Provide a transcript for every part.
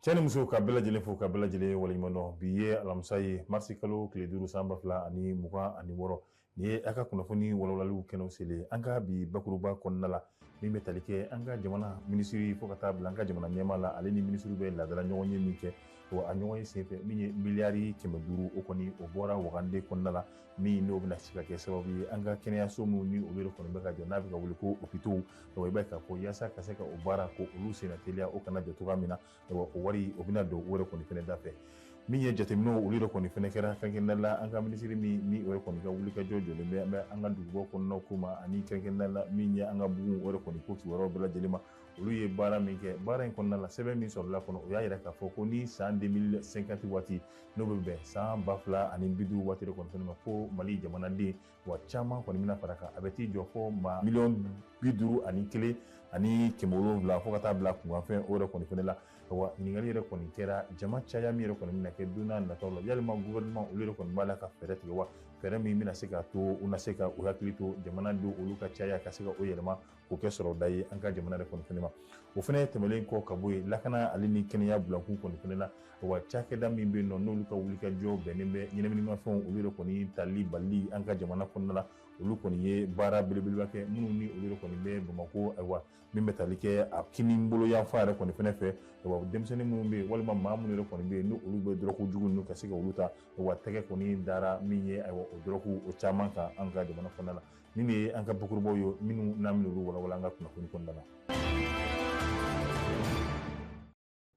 cɛ ni muso ka bɛɛ lajɛlen fo ka bɛɛ lajɛlen waleɲuman dɔn bi ye alamisa ye marisi kalo tile duuru san ba fila ani mugan ani wɔɔrɔ nin ye a ka kunnafoni walawalaliw kɛnɛw selen an ka bi bakuruba kɔnɔna la min bɛ tali kɛ an ka jamana minisiri fo ka taa bila an ka jamana ɲɛmaa la ale ni minisiri bɛ laadala ɲɔgɔnye min kɛ wa a ɲɔgɔnye senfɛ min ye miliyari kɛmɛ duuru o kɔni o bɔra wagande kɔnɔna la min n'o bɛna se ka kɛ sababu ye an ka kɛnɛyaso minnu ni olu yɛrɛ kɔni bɛ ka jɔ n'a bɛ ka wele ko hôpitaux donc i b'a ye k'a fɔ yaasa ka se ka o baara ko olu senna teliya o kana jɔ cogoya min na o wari o bɛna don o yɛrɛ kɔni fɛnɛ da fɛ min ye jateminɛw olu yɛrɛ kɔni fɛnɛ kɛra kɛrɛnkɛrɛnnenya la an ka minisiri min ni o yɛrɛ kɔni ka wulikajɔ jɔlen bɛ an bɛ an ka dugubaw kɔnɔnaw ko ma ani kɛrɛnkɛrɛnnenya la min ye an ka bugun o yɛrɛ kɔni ko kibaruyaw bɛɛ lajɛlen ma olu ye baara min kɛ baara in kɔnɔna la sɛbɛn min sɔrɔla kɔnɔ o y'a yira k'a fɔ ko ni san 2050 waati n'o bɛ bɛn san ba fila ani bi duuru waati de kɔni fɛnɛ ma ko mali jamanaden wa caman kɔni bɛna fara kan a bɛ t'i jɔ fo maa miliyɔn bi duuru ani kelen ani kɛmɛ wolonwula fo ka taa bila kunkanfɛn o yɛrɛ kɔni fɛnɛ la wa ɲininkali yɛrɛ kɔni kɛra jama caya min yɛrɛ kɔni bɛna kɛ don n'a nataw la yalima gouvernement olu yɛrɛ kɔni b'a la ka fɛɛrɛ tigɛ wa fɛɛrɛ min bɛna se k'a to u na se ka u hakili to jamanadenw olu ka caya ka se ka o yɛlɛma k'o kɛ sɔrɔda ye an ka jamana yɛrɛ kɔni fɛnɛ ma o fɛnɛ tɛmɛnen kɔ ka bɔ yen lakana ale ni kɛnɛya bilakun kɔni fɛnɛ la wa cakɛda min bɛ yen nɔ n'olu ka wulikajɔ bɛnnen bɛ ɲɛnaminimafɛnw olu yɛrɛ kɔni tali bali an ka jamana kɔnɔna la olu kɔni ye baara belebeleba kɛ minnu ni olu yɛrɛ kɔni bɛ bamakɔ ayiwa min bɛ tali kɛ a kinibolo yanfan yɛrɛ kɔni fɛnɛ fɛ wa denmisɛnnin minnu bɛ yen walima maa minnu yɛrɛ kɔni bɛ yen ni olu bɛ dɔrɔgu jugu ninnu ka se ka olu ta wa tɛgɛ kɔni dara min ye ayiwa o dɔrɔgu o caman kan an ka jamana kɔnɔna la nin de ye an ka bakurubaw ye minnu n'an bɛna olu walawala an ka kunnafoni kɔnɔna la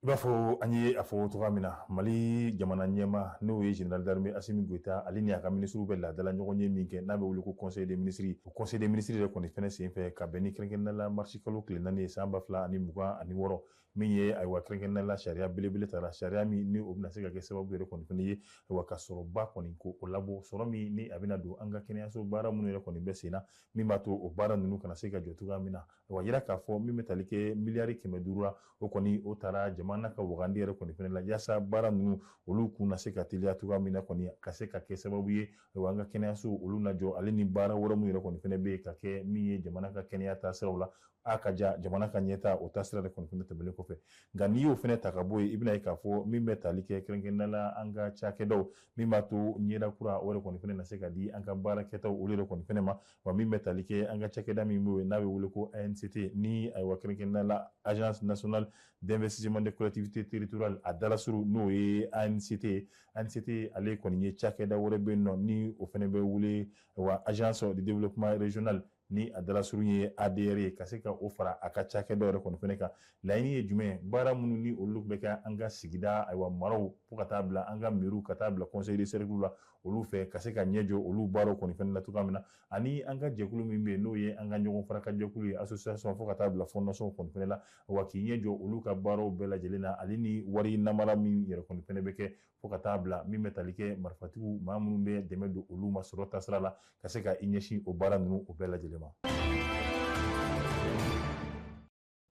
i b'a fɔ an ye a fɔ cogoya min na mali jamana ɲɛmaa n'o ye général d'armée assimi goïta ale ni a ka minisiriw bɛ laadala ɲɔgɔnye min kɛ n'a bɛ wele ko conseil des ministres o conseil des ministres yɛrɛ kɔni fɛnɛ senfɛ ka bɛn ni kɛrɛnkɛrɛnnenya la marisi kalo tile naani ye san ba fila ani mugan ani wɔɔrɔ min ye ayiwa kɛrɛnkɛrɛnnenya la sariya belebele tara sariya min ni o bɛna se ka kɛ sababu yɛrɛ kɔni fɛnɛ ye wa ka sɔrɔba kɔni ko o labɔ sɔrɔ min ni a bɛna don an ka kɛnɛyaso baara minnu yɛrɛ kɔni bɛ sen na min b'a to o baara ninnu kana se ka jɔ cogoya min na wa yira k'a fɔ min bɛ tali kɛ miliyari kɛmɛ duuru la o kɔni o tara jamana ka wagandi yɛrɛ kɔni fɛnɛ la yaasa baara ninnu olu kun na se ka teliya cogoya min na kɔni ka se ka kɛ sababu ye wa an ka kɛnɛyaso olu najɔ ale ni baara wɛrɛ min yɛrɛ kɔni fɛnɛ bɛ ka kɛ min ye jamana ka kɛnɛya taasiraw la a ka ja jamana ka ɲɛtaa o taasira de kɔni fɛnɛ tɛmɛlen kɔfɛ nka n'i y'o fɛnɛ ta ka bɔ yen i bɛn'a ye k'a fɔ min bɛ tali kɛ kɛrɛnkɛrɛnnenya la an ka cakɛdaw min b'a to ɲɛda kura o yɛrɛ kɔni fɛnɛ na se ka di an ka baarakɛtaw olu yɛrɛ kɔni fɛnɛ ma wa min bɛ tali kɛ an ka cakɛda min bɛ yen n'a bɛ wele ko ANCT ni ayiwa kɛrɛnkɛrɛnnenya la agence nationale d'investissement des collectivités territoriales a dalasurun n'o ye ANCT ye ANICT ale kɔni ye cakɛda wɛrɛ bɛ yen nɔ ni o fɛnɛ bɛ wele wa agence de développement régional ni a dalasurun ye ADR ye ka se ka o fara a ka cakɛda yɛrɛ kɔni fɛnɛ kan laɲini ye jumɛn baara minnu ni olu bɛ kɛ an ka sigida ayiwa maraw fo ka taa bila an ka mairies ka taa bila conseil de cercle la olu fɛ ka se ka ɲɛ jɔ olu baaraw kɔni fɛnɛ la cogoya min na ani an ka jɛkulu min bɛ yen n'o ye an ka ɲɔgɔn fara kan jɛkulu ye association fo ka taa bila fondation kɔni fɛnɛ la wa k'i ɲɛ jɔ olu ka baaraw bɛɛ lajɛlen na ale ni wari namara min yɛrɛ kɔni fɛnɛ bɛ kɛ fo ka taa bila min bɛ tali kɛ marifatigiw maa minnu bɛ dɛmɛ don olu ma sɔrɔ taasira la ka se ka i ɲɛsin o baara ninnu o bɛɛ lajɛlen ma.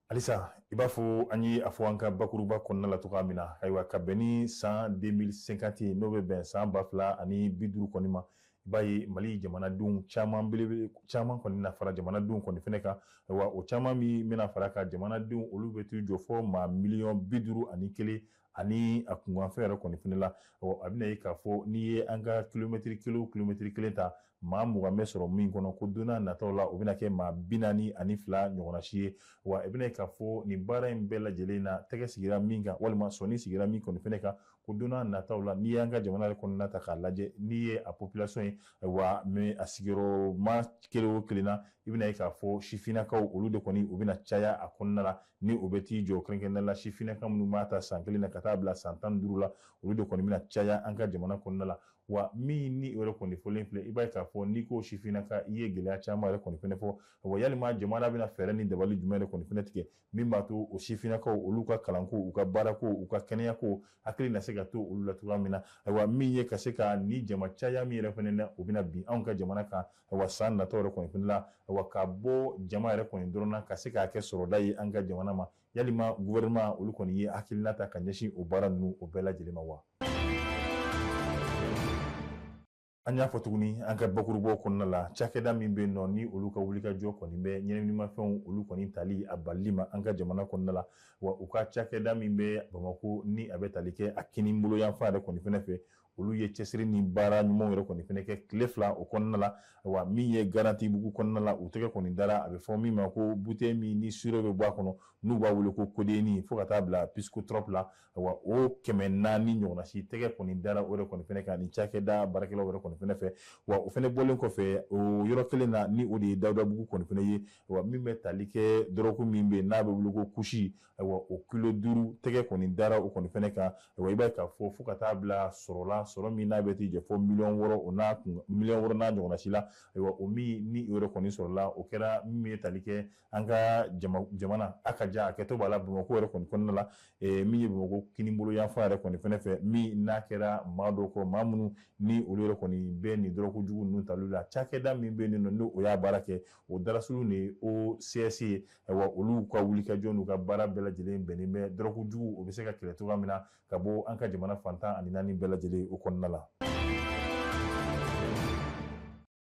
halisa i b'a fɔ an ye a fɔ an ka bakuruba kɔnɔna la cogoya min na ayiwa ka bɛn ni san 2050 ye n'o bɛ bɛn san ba fila ani bi duuru kɔni ma i b'a ye mali jamanadenw caman belebele caman kɔni na fara jamanadenw kɔni fɛnɛ kan ayiwa o caman min bɛna fara kan jamanadenw olu bɛ t'u jɔ fo maa miliyɔn bi duuru ani kelen ani a kunkanfɛn yɛrɛ kɔni fɛnɛ la a bɛna ye k'a fɔ n'i ye an ka kilomɛtiri kelen o kilomɛtiri kelen ta maa mugan bɛ sɔrɔ min kɔnɔ ko donna nataw la o bɛna kɛ maa bi naani ani fila ɲɔgɔnna si ye wa i bɛna ye k'a fɔ nin baara in bɛɛ lajɛlen na tɛgɛ sigira min kan walima sɔni sigira min kɔni fɛnɛ kan ko donna nataw la n'i y'an ka jamana yɛrɛ kɔnɔna ta k'a lajɛ n'i ye a population ye wa mais a sigiyɔrɔma kelen o kelen na i bɛna ye k'a fɔ sifinnakaw olu de kɔni u bɛna caya a kɔnɔna la ni o bɛ t'i jɔ kɛrɛnkɛrɛnnenya la sifinnaka minnu b'a ta san kelen na ka taa bila san tan ni duuru la olu de kɔni bɛna caya an ka jamana kɔnɔna la wa min ni o yɛrɛ kɔni fɔlen filɛ i b'a ye k'a fɔ n'i ko sifinnaka i ye gɛlɛya caman yɛrɛ kɔni fɛnɛ fɔ wa yalima jamana bɛna fɛɛrɛ ni dabali jumɛn de kɔni fɛnɛ tigɛ min b'a to o sifinnakaw olu ka kalanko u ka baarako u ka kɛnɛyako hakili na se ka to olu la cogoya min na ayiwa min ye ka se ka ni jama caya min yɛrɛ fɛnɛ na o bɛna bin anw ka jamana kan wa san nataw yɛrɛ kɔni fɛnɛ la wa ka bɔ jama yɛrɛ kɔni dɔrɔn na ka se k'a kɛ sɔrɔda ye an ka jamana ma yalima gouvernement olu kɔni ye hakilina ta ka ɲɛsin o baara ninnu o bɛɛ lajɛlen ma wa an y'a fɔ tuguni an ka bakurubɔ kɔnɔna la cakɛda min bɛ nɔ ni olu ka wulikajɔ kɔni bɛ ɲɛnaminimafɛnw olu kɔni tali a balili ma an ka jamana kɔnɔna la wa u ka cakɛda min bɛ bamako ni a bɛ tali kɛ a kininbolo yanfan yɛrɛ kɔni fɛnɛ fɛ olu ye cɛsiri ni baara ɲumanw yɛrɛ kɔni fɛnɛ kɛ tile fila o kɔnɔna la wa min ye garantibugu kɔnɔna la u tɛgɛ kɔni dara a bɛ fɔ min ma ko bouteille min ni sirop bɛ bɔ a kɔnɔ n'u b'a wele ko codéine fo ka taa bila psychotrope la wa o kɛmɛ naani ɲɔgɔnna si tɛgɛ kɔni dara o de kɔni fɛnɛ kan ni cakɛda baarakɛlaw yɛrɛ kɔni fɛnɛ fɛ wa o fɛnɛ bɔlen kɔfɛ o yɔrɔ kelen na ni o de ye dawudabugu kɔni fɛnɛ ye wa min bɛ tali kɛ dɔrɔgu min bɛ n'a bɛ wele ko kush ayiwa o kilo duuru tɛgɛ kɔni dara o kɔni fɛnɛ kan ayiwa i b'a ye k'a fɔ fo ka taa bila sɔrɔ la sɔrɔ min n'a bɛ t'i jɔ fo miliyɔn wɔɔrɔ o n'a kun miliyɔn wɔɔrɔ n'a ɲɔgɔnna si la ayiwa o min ni o yɛrɛ kɔni sɔrɔla o kɛra min ye tali kɛ an ka jamana a ka jan a kɛtɔ b'a la bamakɔ yɛrɛ kɔni kɔnɔna la min ye bamakɔ kinibolo yanfan yɛrɛ kɔni fɛnɛ fɛ min n'a kɛra maa dɔw kɔ maa minnu ni olu yɛrɛ kɔni bɛ nin dɔrɔgujugu ninnu tali la cakɛda min bɛ yen nɔ n'o o y'a baara kɛ o daɲɛsurun de ye OCS ye ayiwa olu ka wulikajɔ n'u ka baara bɛɛ lajɛlen bɛnnen bɛ dɔrɔgujugu o bɛ se ka kɛlɛ cogoya min na ka bɔ an ka jamana fan tan ani naani bɛɛ lajɛlen o kɔnɔna la.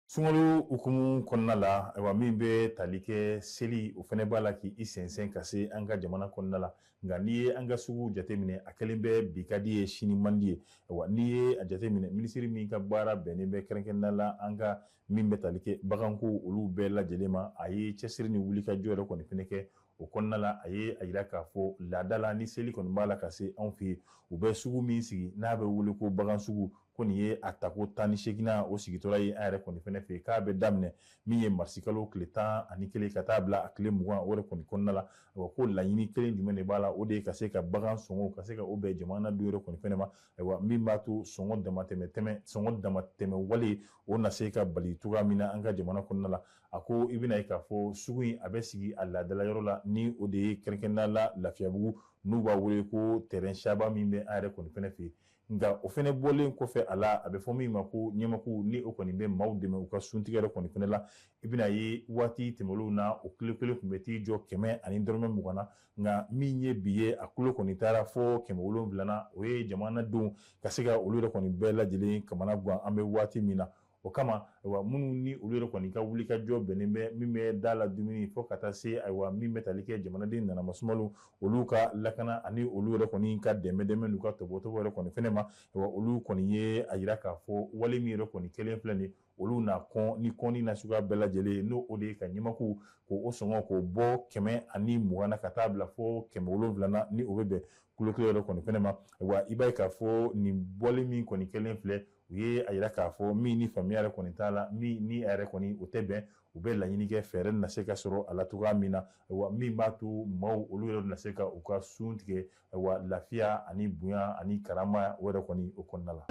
Sunkalo hukumu kɔnɔna la ayiwa min bɛ tali kɛ seli o fɛnɛ b'a la k'i sɛnsɛn ka se an ka jamana kɔnɔna la nka n'i ye an ka suguw jateminɛ a kɛlen bɛ bi ka di ye sini man di ye ayiwa n'i ye a jateminɛ minisiri min ka baara bɛnnen bɛ kɛrɛnkɛrɛnnenya la an ka min bɛ tali kɛ baganko olu bɛɛ lajɛlen ma a ye cɛsiri ni wulikajɔ yɛrɛ kɔni fɛnɛ kɛ o kɔnɔna la a ye a yira k'a fɔ laada la ni seli kɔni b'a la ka se anw fɛ yen u bɛ sugu min sigi n'a bɛ wele ko bagan sugu ko nin ye a tako tan ni seginnan o sigitɔla ye an yɛrɛ kɔni fɛnɛ fɛ yen k'a bɛ daminɛ min ye marisikalo tile tan ani kelen ka taa bila a tile mugan o kɔni kɔnɔna la a ko laɲini kelen jumɛn de b'a la o de ye ka se ka bagan sɔngɔ ka se ka o bɛn jamanadenw yɛrɛ kɔni fɛnɛ ma ayiwa min b'a to sɔngɔ damatɛmɛ sɔngɔ damatɛmɛ wale o na se ka bali cogoya min na an ka jamana kɔnɔna la a ko i bɛna ye k'a fɔ sugu in a bɛ sigi a laadala yɔrɔ la ni o de ye kɛrɛnkɛrɛnnenya la Lafiyabugu n'u b'a wele ko terrain saba min bɛ an yɛrɛ kɔni fɛnɛ fɛ yen nka o fɛnɛ bɔlen kɔfɛ a la a bɛ fɔ min ma ko ɲɛmaku ni o kɔni bɛ maaw dɛmɛ u ka suntigɛ yɛrɛ kɔni fɛnɛ la i bɛna ye waati tɛmɛnlenw na o kilo kelen tun bɛ t'i jɔ kɛmɛ ani dɔrɔmɛ mugan na nka min ye bi ye a kilo kɔni taara fo kɛmɛ wolonfila na o ye jamanadenw ka se ka olu yɛrɛ kɔni bɛɛ lajɛlen kamana gan an bɛ waati min na o kama ayiwa minnu ni olu yɛrɛ kɔni ka wulikajɔ bɛnnen bɛ min bɛ da la dumuni fo ka taa se ayiwa min bɛ tali kɛ jamanaden nana masumaw olu ka lakana ani olu yɛrɛ kɔni ka dɛmɛ dɛmɛ n'u ka tɔbɔtɔbɔ yɛrɛ kɔni fɛnɛ ma ayiwa olu kɔni ye a yira k'a fɔ wale min yɛrɛ kɔni kɛlen filɛ nin ye olu na kɔn ni kɔnni na suguya bɛɛ lajɛlen n'o o de ye ka ɲɛmaku k'o sɔngɔ k'o bɔ kɛmɛ ani mugan na ka taa bila fo kɛmɛ wolonfila na ni o bɛ bɛn kilo kelen yɛrɛ kɔni fɛnɛ ma wa i b'a ye k'a fɔ nin wale min kɔni kɛlen filɛ u ye a yira k'a fɔ min ni faamuya yɛrɛ kɔni t'a la min ni a yɛrɛ kɔni o tɛ bɛn u bɛ laɲini kɛ fɛɛrɛ na se ka sɔrɔ a la cogoya min na wa min b'a to maaw olu yɛrɛ na se ka u ka sun tigɛ wa lafiya ani bonya ani karama o yɛrɛ kɔni o kɔnɔna la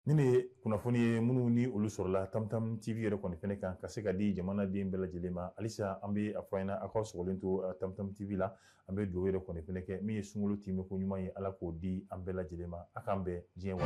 nin de ye kunnafoni ye minnu ni olu sɔrɔla tamtam tv yɛrɛ kɔni fɛnɛ kan ka se ka di jamanaden bɛɛ lajɛlen ma halisa an be a fɔ ɲɛna aw ka sɔgɔlen to uh, tamtam tv la an be dugawu yɛrɛ kɔni fɛnɛ kɛ min ye sunkalo tɛmɛ ko ɲuman ye ala k'o di an bɛɛ lajɛlen ma a k'an bɛn siɲɛ wa